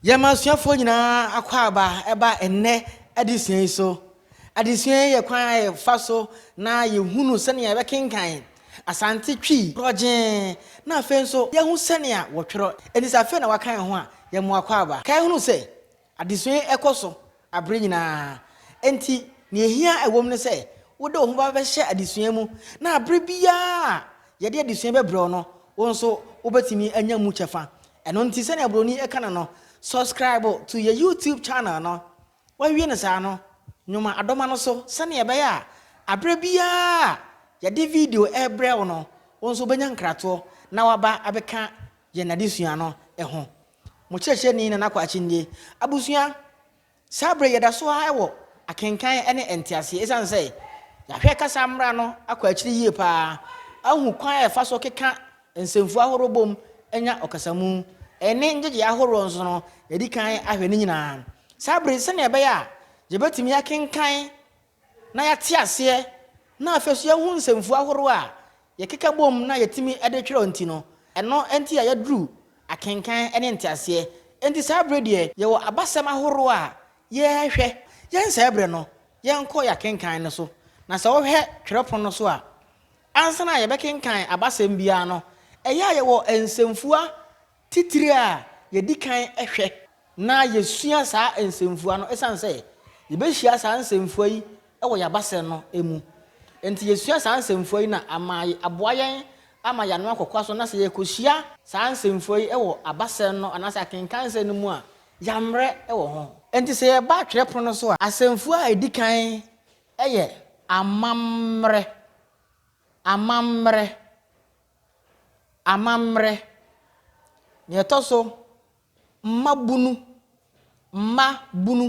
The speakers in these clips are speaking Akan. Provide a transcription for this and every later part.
Yɛn ma asuafoɔ nyinaa akwaaba ba ɛnnɛ adesua yi so. Adesua yi yɛ kwan a yɛfa so na yɛhunu sɛnea yɛbɛkenkan Asante Twi korɔgyee na afei nso yɛahu sɛnea wɔtwerɛ. Enti sɛ afei na woaka yɛn ho a, yɛn mo akwaaba. Kae hunu sɛ, adesua yi kɔ so bere nyinaa. Enti, nea ehia a ɛwom ne sɛ wode wo ho bɛhyɛ adesua mu, na bere biara a yɛde adesua bɛbrɛ wo no, wo nso wubetumi anya mu kyɛfa. Ɛno nti, sɛnea Buroni ka no no, Subscribe to yɛn YouTube channel no. Woawie no saa no, nwoma adoma no so sɛnea ɛbɛyɛ a bere biara a yɛde video rebrɛ wo no, wo nso wubenya nkratoɔ na woaba abɛka yɛn adesua no ho. Mo kyerɛkyerɛni Nana Kwakye nie. Abusua, saa berɛ yi yɛda so ara wɔ akenkan ne nteaseɛ ɛsiane sɛ yɛahwɛ kasa mmara no akɔ akyiri yie pa ara ahu kwan a yɛfa so keka nsɛmfua ahoroɔ bom nya ɔkasamu ne ngyegyeɛ ahoroɔ nso no yɛadi kan ahwɛ ne nyinaa saa berɛ yi sɛdeɛ ɛbɛyɛ a yɛbɛtumi akenkan na yɛate aseɛ na afei nso yɛahu nsɛmfua ahorow a yɛkeka bom na yɛtumi de twerɛ nti no, ɛno nti a yɛaduru akenkan ne nteaseɛ. Enti saa berɛ deɛ yɛwɔ abasɛm ahorow a yɛrehwɛ. Yɛnsɛe berɛ no, yɛnkɔ yɛn akenkan no so. Na sɛ wohwɛ twerɛpono no so a, ansa na yɛbɛkenkan abasɛm biara no, ɛyɛ a yɛwɔ nsɛmfua titire a yɛdi kan hwɛ na yɛsua saa nsɛmfua no ɛsiane sɛ yɛbɛhyia saa nsɛmfua yi wɔ yɛn abasɛm no mu nti yɛsua saa nsɛmfua yi na ama aboa yɛn ama yɛn ano akɔkoa so na sɛ yɛkɔhyia saa nsɛmfua yi wɔ abasɛm no anaasɛ akenkan sɛm no mu a yɛammrɛ wɔ ho. Nti sɛ yɛba twerɛpono no so a asɛmfua a ɛdi kan yɛ amammrɛ, amammrɛ, Amammerɛ. Nea ɛtɔ so, mmabunu, mmabunu,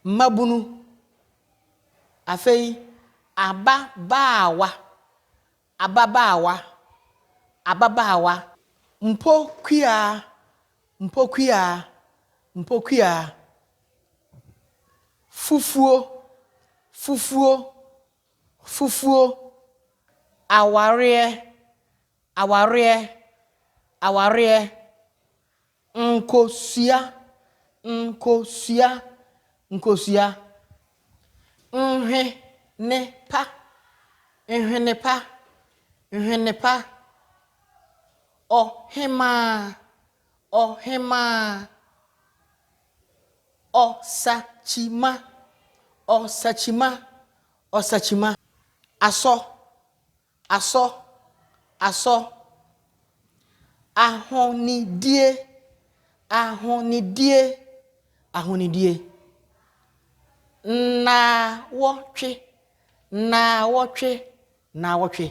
mmabunu. Afei, ababaawa, ababaawa, ababaawa. Mpokuaa, mpokuaa, mpokuaa. Fufuo, fufuo, Fufuo, awareɛ, awareɛ, awareɛ, nkosua, nkosua, nkosua, nhwenepa, nhwenepa, nhwenepa, ɔhemaa, ɔhemaa. Ɔsakyima Ɔsakyima Ɔsakyima Asɔ Asɔ Asɔ Ahonidie Ahonidie Ahonidie Nnaawɔtwe Nnaawɔtwe Naawɔtwe.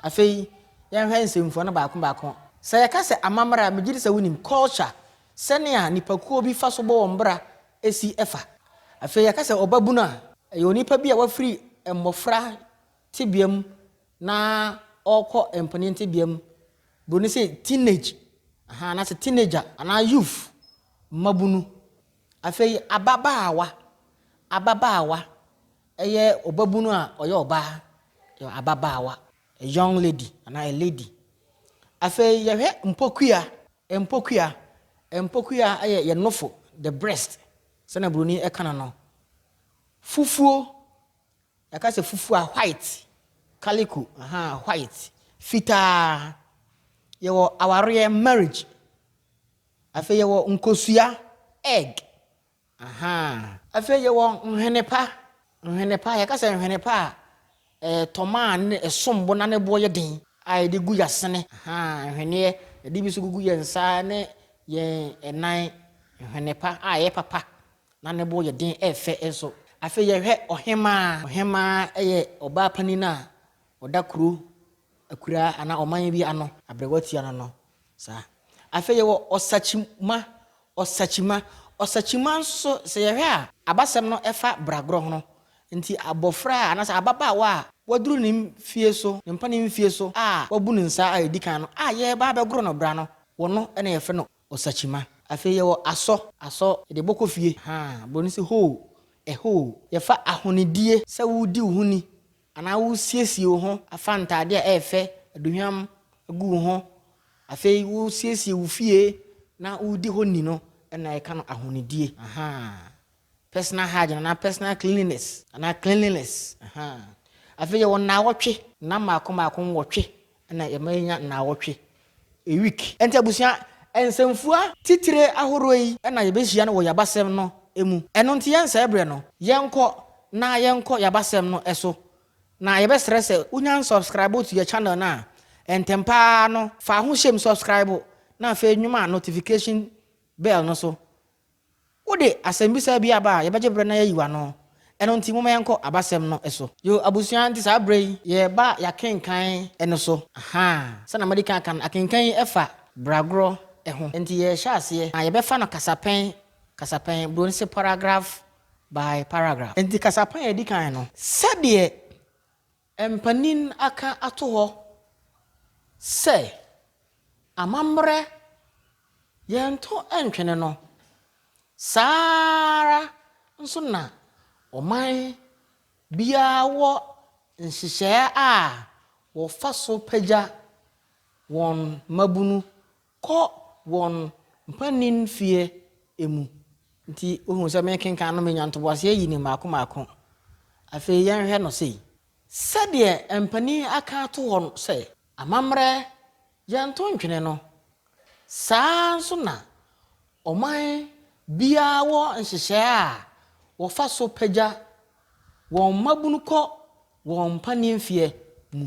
Afei yɛnhwɛ nsɛmfua no baako baako. Sɛ yɛka sɛ amammerɛ a, megye di sɛ wunim, culture, sɛnea nnipakuo bi fa so bɔ wɔn bra si fa. Afei yɛka sɛ ɔbabunu a, ɛyɛ onipa bi a wafiri mmɔfra tebea mu na ɔrekɔ mpanin tebea mu. Buroni se teenage, aha, anaasɛ teenager anaa youth, mmabunu. Afei ababaawa, ababaawa. Ɛyɛ ɔbabunu a ɔyɛ ɔbaa, ababaawa, a young lady anaa a lady. Afei yɛhwɛ mpokua, mpokua, mpokua yɛ yɛn nofo, the breast, sɛnea buroni ɛka no no. Fufuo, yɛka sɛ fufuo a white, calico, aha, white, fitaa. Yɛwɔ awareɛ, marriage. Afei yɛwɔ nkosua, egg, Ahaa. Afei yɛwɔ nhwene pa. Nhwene pa, yɛka sɛ nhwene pa a ɛtɔma a ne ɛsom bo na ne boɔ yɛ den a yɛde gu yɛasene. Ahaa, nhweneɛ. Yɛde bi nso gugu yɛn nsa ne yɛn nan. Nhwene pa a ɛyɛ papa na ne bo yɛ den, ɛyɛ fɛ nso. Afei yɛhwɛ ɔhemaa. Ɔhemaa yɛ ɔbaa panin a ɔda kuro akuraa anaa ɔman bi ano. Aberewa tua no no saa. Afei yɛwɔ ɔsakyima, ɔsakyima. Ɔsakyima nso sɛ yɛhwɛ a, abasɛm no ɛfa bragorɔ ho. Nti abɔfra a anaasɛ ababaawa a waduru ne mfie so, ne mpanin mfie so a wabu ne nsa a ɛdi kan no a yɛreba abɛgoro no bra no, wɔno na yɛfrɛ no ɔsakyima. Afei yɛwɔ asɔ, asɔ yɛde bɔ kɔ fie, ahaa, borɔni se hoo, a hole. Yɛfa ahonidie sɛ woredi wo ho ni, Anaa wosiesie wo ho afa ntade a ɛyɛ fɛ, aduhwam agu wo ho, afei wosiesie wo fie na woredi hɔ ni no na yɛka no ahonidie. Ahaa. Personal hygiene anaa personal cleanliness anaa cleanliness. Ahaa. Afei yɛwɔ nnawɔtwe, nna mmaako mmaako nwɔtwe Ɛna yɛma yɛnya nnaawɔtwe, a week. Enti abusua, nsɛmfua titire ahoroɔ yi na yɛbɛhyia no wɔ Y'abasɛm no mu. Ɛno nti yɛnsɛe berɛ no, yɛnkɔ na yɛnkɔ Y'abasɛm no so. Na yɛbɛsrɛ sɛ wonya nsubscribe to yɛ channel no a, ntɛm pa ara no fa ahohyem subscribe na afei nwoma notification bell no so Wode asɛmmisa bi aba a, yɛbɛgye berɛ na yɛayi w'ano. Ɛno nti, momma yɛnkɔ abasɛm no so. Yoo abusua, nti saa berɛ yi, yɛreba yɛakenkan no so. Ahaa, sɛdeɛ madi kan aka no, akenkan yi fa bragorɔ ho. Nti yɛrehyɛ aseɛ, na yɛbɛfa no kasapɛn kasapɛn, buroni se paragraph by paragraph. Nti kasapɛn a ɛdi kan no, sɛdeɛ Mpanyin aka ato hɔ sɛ amammerɛ yɛnto ntwene no, saa ara nso na ɔman biara wɔ nhyehyɛe a wɔfa so pagya wɔn mmabunu Kɔ wɔn mpaninfeɛ mu. Nti wohunu sɛ merekenkan no menya ntoboaseɛ yi no mmaako mmaako. Afei yɛnhwɛ no sei. Sɛdeɛ mpanin aka ato hɔ sɛ. Amammerɛ yɛnto ntwene no, saa ara nso na ɔman biara wɔ nhyehyɛe a wɔfa so pagya wɔn mmabunu kɔ wɔn mpaninfeɛ mu.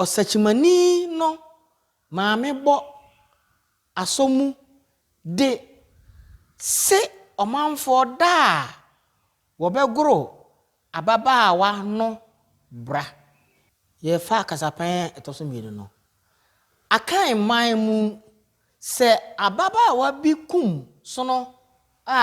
Ɔsakyimani no maame bɔ asɔ mu de se ɔmanfoɔ da a wɔbɛgoro ababaawa no bra. Yɛfa kasapan a ɛtɔ so mmienu no. Akan man mu, sɛ ababaawa bi kum sono a,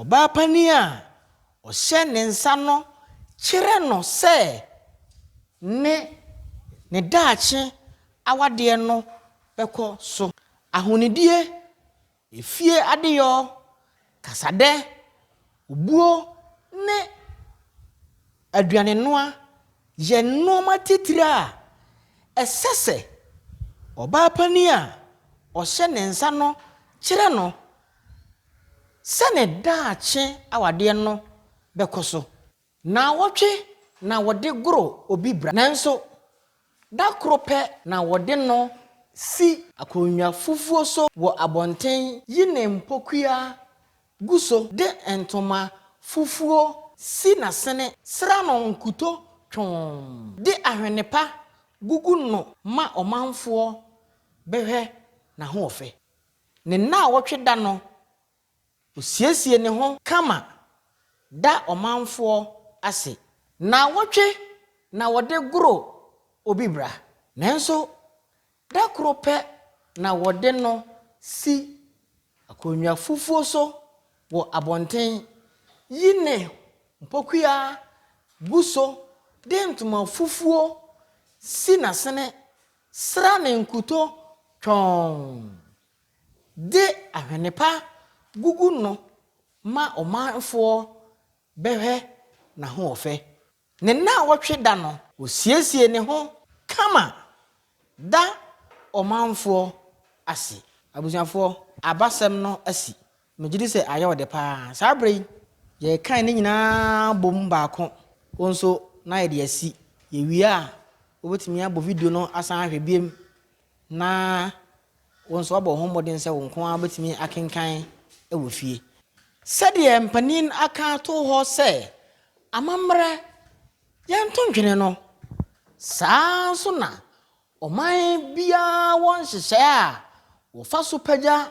Ɔbaa panin a ɔhyɛ ne nsa no kyerɛ no sɛ ne ne daakye awadeɛ no bɛkɔ so. Ahonidie, efie adeyɔ, kasadɛ, obuo ne aduanenoa yɛ nnoɔma titire a ɛsɛ sɛ ɔbaa panin a ɔhyɛ ne nsa no kyerɛ no sɛ ne daakye awadeɛ no bɛkɔ so. Naawɔtwe na wɔde goro obi bra, nanso da koro pɛ na wɔde no si. Akonnwa fufuo so wɔ abɔnten. Yi ne mpokua gu so. De ntoma fufuo si n'asene. Sra no nkuto twɔnn. De ahwene pa gugu no ma ɔmanfoɔ bɛhwɛ n'ahoɔfɛ. Ne nnaawɔtwe da no, osiesie ne ho kama da ɔmanfoɔ ase. Nnaawɔtwe na wɔde goro obi bra, nanso da koro pɛ na wɔde no si akonnwa fufuo so wɔ abɔnten, yi ne mpokua gu so de ntoma fufuo si n'asene Sra ne nkuto twɔnn. De ahwene pa gugu no ma ɔmanfoɔ bɛhwɛ n'ahoɔfɛ. Ne nnawɔtwe da no. Ɔsiesie ne ho kama da ɔmanfoɔ ase. Abusuafoɔ, abasɛm no asi. Megye di sɛ ayɛ wo dɛ paa. Saa bere yi, yɛkan ne nyinaa bom baako. Wo nso, na yɛde asi. Yewie a, wubetumi abɔ video no asan ahwɛ bio, na wo nso woabɔ wo ho mmɔden sɛ wo nko ara wubetumi akenkan wɔ fie. Sɛdeɛ mpanin aka ato hɔ sɛ, Amammerɛ, yɛnto ntwene no, saa ara nso na ɔman biara wɔ nhyehyɛe a wɔfa so pagya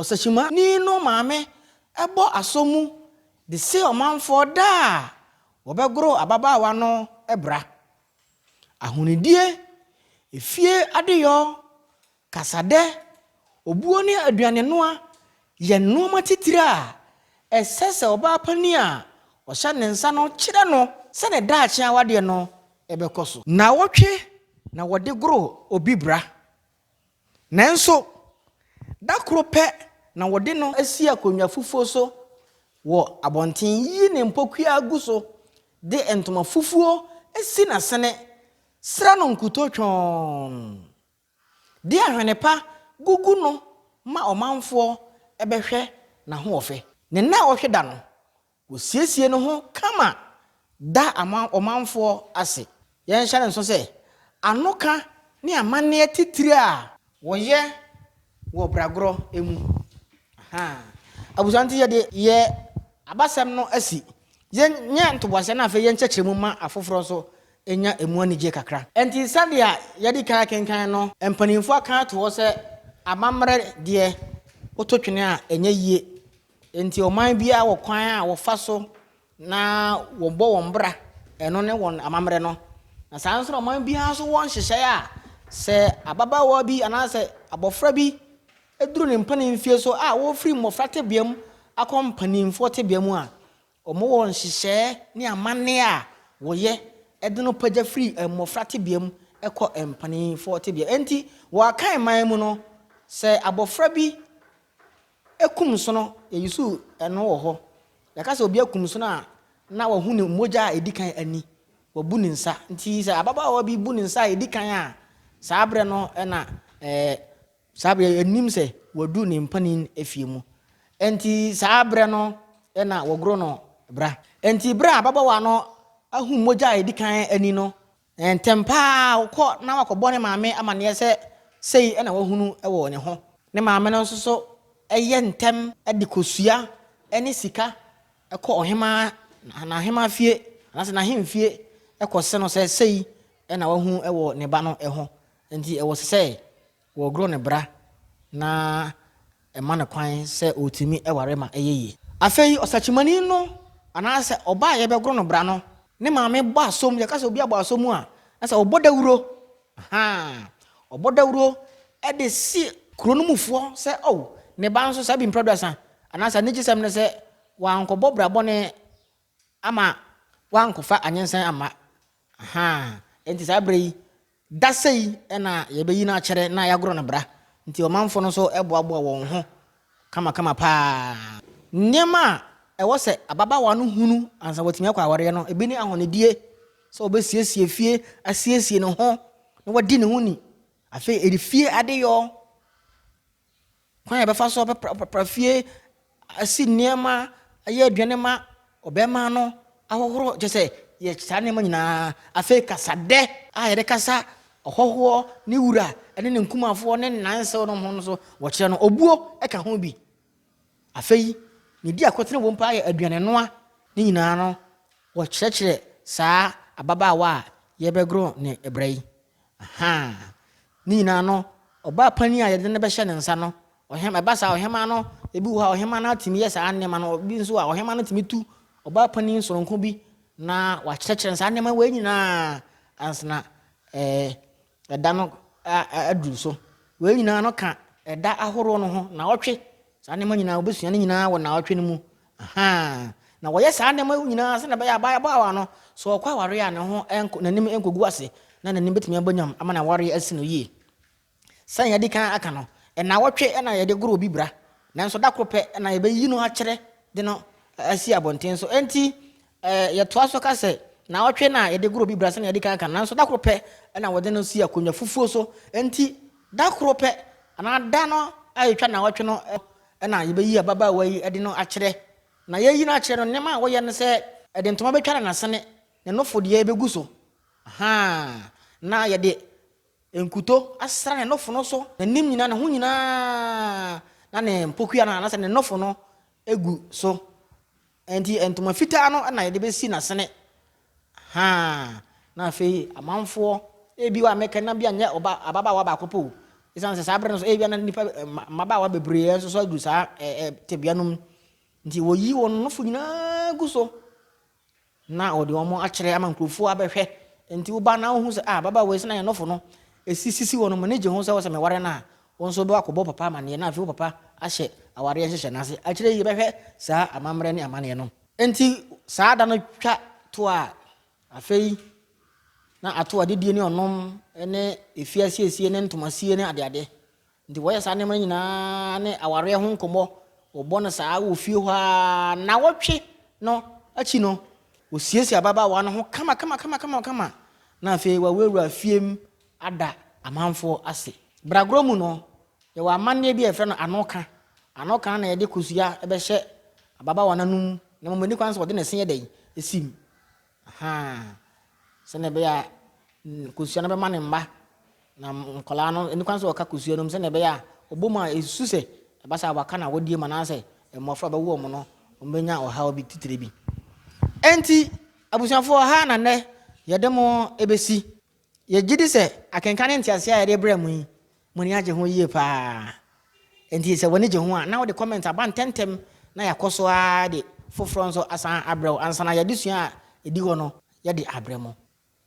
Ɔsakyimani no maame bɔ asɔ mu de se ɔmanfoɔ da a wɔbɛgoro ababaawa no bra. Ahonidie, efie adeyɔ, kasadɛ, obuo ne aduanenoa yɛ nnoɔma titire a ɛsɛ sɛ ɔbaa panin a ɔhyɛ ne nsa no kyerɛ no sɛ ne daakye awadeɛ no bɛkɔ so. Nnawɔtwe na wɔde goro obi bra. Nanso, da koro pɛ na wɔde no asi akonnwa fufuo so wɔ abɔnten, yiyi ne mpokuaa gu so, de ntoma fufuo si n'asene, sra no nkutoo twɔnn, de ahwene pa gugu no ma ɔmanfoɔ bɛhwɛ n'ahoɔfɛ. Ne nna a ɔhwe da no, Wɔsiesie ne ho kama da ɔmanfoɔ ase. Yɛnhyɛ no nso sɛ, anoka ne amanneɛ titire a wɔyɛ wɔ bragorɔ mu. Ahaa. Abusua nti yɛde yɛ abasɛm no asi. Yɛnyɛ ntoboaseɛ na afei yɛnkyɛkyerɛ mu ma afoforɔ nso nya ɛmu anigyeɛ kakra. Ɛnti sɛdeɛ yɛadi kan akenkan no, mpaninfoɔ aka ato hɔ sɛ, Amammerɛ deɛ, woto twene a ɛnyɛ yie. Enti ɔman biara wɔ kwan a wɔfa so na wɔbɔ wɔn bra, ɛno ne wɔn amammerɛ no. Na saa ara nso na ɔman biara nso wɔ nhyehyɛe a sɛ ababaawa bi anaasɛ abɔfra bi duru ne mpanin mfeɛ so a wɔrefiri mmɔfra tebea mu akɔ mpanimfoɔ tebea mu a, wɔwɔ nhyehyɛe ne amanneɛ a wɔyɛ de no pagya firi mmɔfra tebea mu kɔ mpanimfoɔ tebea. Enti wɔ Akan man mu no, sɛ abɔfra bi Ekum nsono, yɛusew ɛno wɔ hɔ. Yɛka sɛ obi akum nsono a, na wahu ne mogya a edi kan ani, wabu ne nsa. Nti sɛ ababaawa bi bu ne nsa a edi kan a, saa berɛ no na ɛɛ saa berɛ yɛnim sɛ wadu ne mpanin efie mu. Enti saa berɛ no na wɔgoro no bra. Enti berɛ a ababaawa no ahu mogya a edi kan ani no, Na ntɛm pa ara ɔkɔ na wakɔbɔ ne maame amanneɛ sɛ sei na wahunu wɔ ne ho. Ne maame no nso so yɛ ntɛm de kosua ne sika kɔ ɔhemmaa, n'ahemmaa fie anaasɛ n'ahemfie kɔse no sɛ sei na wahunu wɔ ne ba no ho. Enti ɛwɔ sɛ Wɔgoro ne bra na ɛma no kwan sɛ ɔtumi ware ma ɛyɛ yie. Afei ɔsakyimani no anaasɛ ɔbaa a yɛbɛgoro no bra no ne maame bɔ asom, yɛka sɛ obi abɔ asom a, na sɛ ɔbɔ dawuro, ahaa, ɔbɔ dawuro de si kuro no mufoɔ sɛ o, ne ba nso saa bi mprɛduasa, anaasɛ anigyesɛm ne sɛ wankɔbɔ bra bɔne Ama woankɔfa anyensan amma. Ahaa, enti saa berɛ yi, da sei na yɛbɛyi no akyɛrɛ na yɛagorɔ no bra. Enti ɔmanfoɔ no nso boaboaa wɔn ho kamakama pa ara. Nneɛma a ɛwɔ sɛ ababaawa no hunu ansa watumi akɔ awareɛ no, ebi ne ahɔnedie, sɛ ɔbɛsiesie fie, asiesie ne ho, na wadi ne ho ni. Afei, ɛyɛ fie adeyɔ. Kwan a yɛbɛfa so apra fie, asi nneɛma, ayɛ aduane ma ɔbarima no ahohoro, kyerɛ sɛ yɛ saa nneɛma nyinaa. Afei kasadɛ a yɛde kasa ɔhɔhoɔ ne wura ne ne nkumafoɔ ne nansew no ho no so wɔkyerɛ no obuo ka ho bi. Afei ne di akotene wɔ mpo ayɛ aduane noa ne nyinaa no wɔkyerɛkyerɛ saa ababaawa a yɛbɛgoro ne brɛ yi. Ahaa. Ne nyinaa no, ɔbaa panin a yɛde no bɛhyɛ ne nsa no, ɔhema, ɛba saa ɔhema no, ebi wɔ hɔ a ɔhema no atumi yɛ saa nneɛma no, ebi nso a ɔhema no tumi tu ɔbaa panin soronko bi na wakyerɛkyerɛ saa nneɛma wei nyinaa ansana ɛɛ ɛda no aduru so. Wei nyinaa no ka ɛda ahorow no ho, naawɔtwe. Saa nneɛma nyinaa wobɛsua no nyinaa wɔ naawɔtwe no mu. Ahaa, na wɔyɛ saa nneɛma yi nyinaa sɛnea ɛbɛyɛ a ababaawa no, sɛ ɔkɔ awareɛ a, ne ho nkɔ, n'anim nkɔgu ase, na n'anim bɛtumi abɔ nyam ama n'awareɛ asi no yie. Sɛnea yɛadi kan aka no, nnawɔtwe na yɛde goro obi bra, nanso da koro pɛ na yɛbɛyi no akyerɛ de no asi abɔnten so. Enti, yɛtoa so ka sɛ, nnawɔtwe na yɛde goro obi bra sɛnea yɛadi kan aka no, nanso da koro pɛ na wɔde no si akonnwa fufuo so. Enti, da koro pɛ anaa da no a ɛtwa nnawɔtwe no na yebeyi ababaawa yi de no akyerɛ. Na yɛreyi no akyerɛ no, nneɛma a wɔyɛ ne sɛ, yɛde ntoma betwa ne n'asene, ne nofo deɛ begu so, ahaa, na yɛde nkuto asra ne nofo no so, n'anim nyinaa, ne ho nyinaa, na ne mpokua no, anaasɛ ne nofo no gu so. Enti ntoma fitaa no na yɛde bɛsi n'asene. Haa! Na afei amanfoɔ, ebiwa mɛka na bia nyɛ ɔba ababaawa baako pɛ o, ɛsiane sɛ saa berɛ no so ebia na nnipa mmabaawa bebree nso so aduru saa tebea no mu. Nti wɔyi wɔn nofo nyinaa gu so na wɔde wɔn akyerɛ ama nkurɔfoɔ abɛhwɛ. Nti woba na wohu sɛ ah ababaawa yi sɛ na yɛn nofo no ɛsisisi wɔn mu ne gye ho sɛ wɔsɛ meware no a Wo nso wobɛkɔ akɔbɔ wo papa amanneɛ na afei wo papa ahyɛ awareɛ nhyehyɛe no ase. Akyire yi yɛbɛhwɛ saa amammerɛ ne amanneɛ no. Enti saa da no twa to a, afei na ato adidie ne ɔnom ne efie asiesie ne ntoma sie ne adeade. Enti wɔyɛ saa nneɛma no nyinaa ne awareɛ ho nkɔmmɔ, wɔbɔ no saa wɔ fie hɔ ara. Nnawɔtwe no akyi no, wɔsiesie ababaawa no ho kama kama kama kama kama na afei wɔawurawura fie mu ada amanfoɔ ase. Bragorɔ mu no, yɛwɔ amanneɛ bi a yɛfrɛ no Anoka. Anoka no na yɛde kosua bɛhyɛ ababaawa no anom, na mmom ɛnni kwan sɛ wɔde ne se yɛ dɛn? si mu. Ahaa, sɛdeɛ ɛbɛyɛ a kosua no bɛma ne mma, na nkwadaa no ɛnni kwan sɛ wɔka kosua no mu sɛdeɛ ɛbɛyɛ a wɔbɔ mu a ɛsu sɛ ɛba sɛ wɔaka no awɔdeɛ mu anaasɛ mmɔfra a wɔbɛwo wɔn no wɔbɛnya ɔhaw bi titire bi. Enti, abusuafoɔ ha na nnɛ yɛde mo bɛsi. Yɛgye di sɛ akenkan ne ntease a yɛde brɛ mo yi, mo ani agye ho yie pa ara. Enti sɛ w'ani gye ho a, na wode kɔmɛnt aba ntɛmntɛm na yɛakɔ so ara de foforɔ nso asan abrɛ wo ansa na y'adesua a ɛdi hɔ no yɛde abrɛ mo.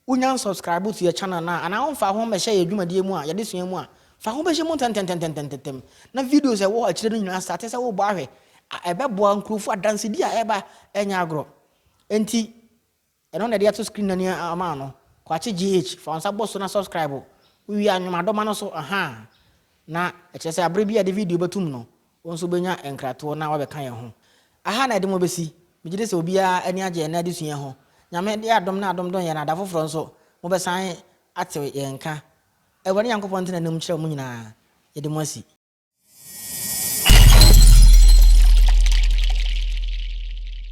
Wonya nsubscribe to yɛn channel no a, anaa womfaa ho mmɛhyɛ yɛn dwumadie mu a, y'adesua mu a, fa ho bɛhyɛ mu ntɛntɛntɛntɛntɛm na videos a ɛwɔ hɔ akyire no nyinaa starte sɛ wobɔ ahwɛ a, ɛbɛboa nkurɔfoɔ adansedie a ɛreba ɛnyɛ agorɔ. Enti. Ɛno na ɛde ato screen no ani ama ano. Kwakye GH, fa wo nsa bɔ so na subscribe. Wo wie a nwom adoma no so ahaa na ɛkyerɛ sɛ abere bi a yɛde video bɛto mu no wo nso wobɛnya nkratoɔ na woabɛka yɛn ho. Aha na ɛdemo bɛsi. Megye di sɛ obiara ani agye ɛnnɛ adesua yi ho. Nyame de adom na adom dom yɛn na da foforɔ nso mobɛsan ate yɛn nka. Awurade Nyankopɔn ntena nna mu nkyerɛ mo nyinaa. Yɛde mo asi.